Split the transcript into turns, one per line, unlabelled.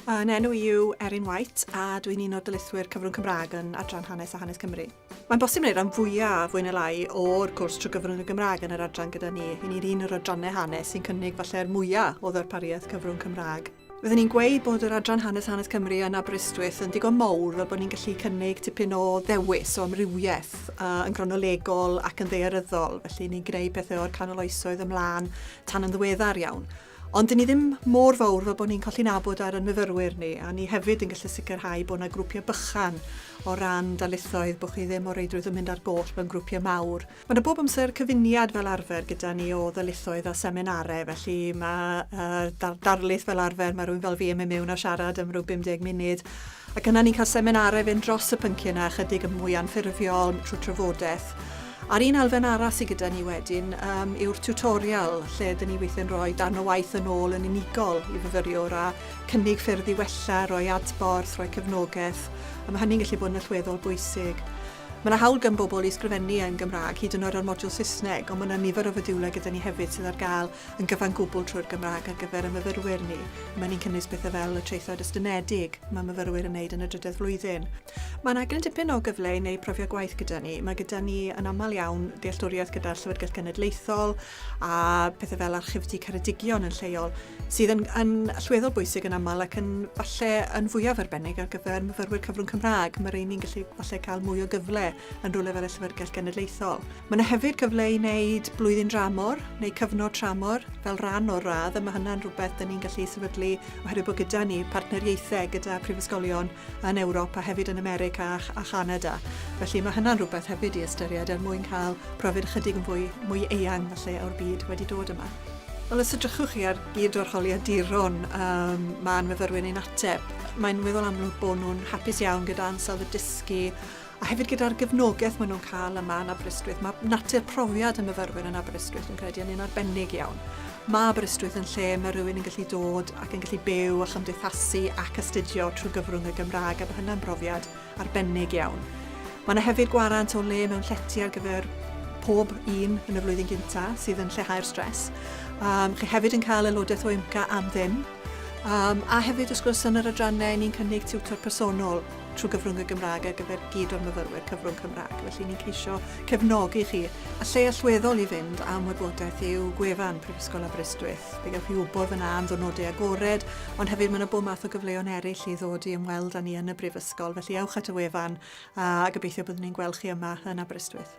Fy enw i yw Erin White a dwi'n un o'r dylithwyr cyfrwng Cymraeg yn Adran Hanes a Hanes Cymru. Mae'n bosib wneud rhan fwyaf, fwy neu lai, o'r cwrs trwy gyfrwng y Gymraeg yn yr adran gyda ni. Hyn ni'n un o'r adrannau hanes sy'n cynnig falle'r mwyaf o ddarpariaeth cyfrwng Cymraeg. Fydden ni'n gweud bod yr Adran Hanes a Hanes Cymru yn Aberystwyth yn digon mowr fel bod ni'n gallu cynnig tipyn o ddewis o amrywiaeth uh, yn gronolegol ac yn ddearyddol, felly ni'n gwneud pethau o'r canol oesoedd ymlaen tan yn ddiweddar iawn. Ond 'dyn ni ddim mor fawr fel bod ni'n colli nabod ar ein myfyrwyr ni, a ni hefyd yn gallu sicrhau bod yna grwpiau bychan o ran darlithoedd, bod chi ddim o reidrwydd yn mynd ar goll mewn grwpiau mawr. Mae yna bob amser cyfuniad fel arfer gyda ni o ddarlithoedd a seminarau, felly mae yy dar- darlith fel arfer, mae rhywun fel fi yn mynd mewn a siarad am ryw 50 munud, Ac yna ni'n cael seminarau fynd dros y pynciau yna ychydig yn mwy anffurfiol trwy trafodaeth. A'r un elfen arall sydd gyda ni wedyn um, yw'r tutorial lle dyn ni weithio'n rhoi darn o waith yn ôl yn unigol i fyfyriwr a cynnig ffyrdd i wella, rhoi adborth, rhoi cefnogaeth. A mae hynny'n gallu bod yn allweddol bwysig. Mae yna hawl gan bobl i ysgrifennu yn Gymraeg, hyd yn oed ar modiwl Saesneg, ond mae yna nifer o fodiwlau gyda ni hefyd sydd ar gael yn gyfan gwbl trwy'r Gymraeg ar gyfer y myfyrwyr ni. Mae ni'n cynnwys pethau fel y traethawd estynedig mae myfyrwyr yn wneud yn y drydedd flwyddyn. Mae'n aglen dipyn o gyfle i wneud profiad gwaith gyda ni. Mae gyda ni yn aml iawn dealltwriaeth gyda'r Llyfrgell Genedlaethol a pethau fel archifdy Ceredigion yn lleol, sydd yn, yn allweddol bwysig yn aml ac yn falle yn fwyaf arbennig ar gyfer myfyrwyr cyfrwng Cymraeg. Mae rei ni'n gallu falle cael mwy o gyfle yn rhywle fel y Llyfrgell Genedlaethol. Mae yna hefyd gyfle i wneud blwyddyn dramor neu cyfnod tramor fel rhan o'r radd a mae hynna'n rhywbeth dyn ni'n gallu sefydlu oherwydd bod gyda ni partneriaethau gyda prifysgolion yn Ewrop a hefyd yn America a, a Chanada. Felly mae hynna'n rhywbeth hefyd i ystyried er mwyn cael profiad ychydig yn fwy, mwy eang felly o'r byd wedi dod yma. Wel, os ydrychwch chi ar gyd o'r holiaduron um, mae'n myfyrwyr ni'n ateb, mae'n weddol amlwg bod nhw'n hapus iawn gyda ansawdd y dysgu a hefyd gyda'r gefnogaeth maen nhw'n cael yma yn Aberystwyth, mae natur profiad y myfyrwyr yn Aberystwyth yn credu yn un arbennig iawn. Mae Aberystwyth yn lle mae rhywun yn gallu dod ac yn gallu byw a chymdeithasu ac astudio trwy gyfrwng y Gymraeg, a mae hynna'n brofiad arbennig iawn. Mae yna hefyd gwarant o le mewn llety ar gyfer pob un yn y flwyddyn gynta sydd yn lleihau'r stres. Um, chi hefyd yn cael aelodaeth o IMCA am ddim, Um, a hefyd, wrth gwrs, yn yr adrannau, ni'n cynnig tiwtor personol trwy gyfrwng y Gymraeg ar gyfer gyd o'r myfyrwyr cyfrwng Cymraeg. Felly ni'n ceisio cefnogi chi. A lle allweddol i fynd am wybodaeth yw gwefan Prifysgol Aberystwyth. Fe gewch chi wybod fyna am ddwrnodau agored, ond hefyd mae yna bob math o gyfleoedd eraill i ddod i ymweld â ni yn y Brifysgol. Felly ewch at y wefan a gobeithio byddwn ni'n gweld chi yma yn Aberystwyth.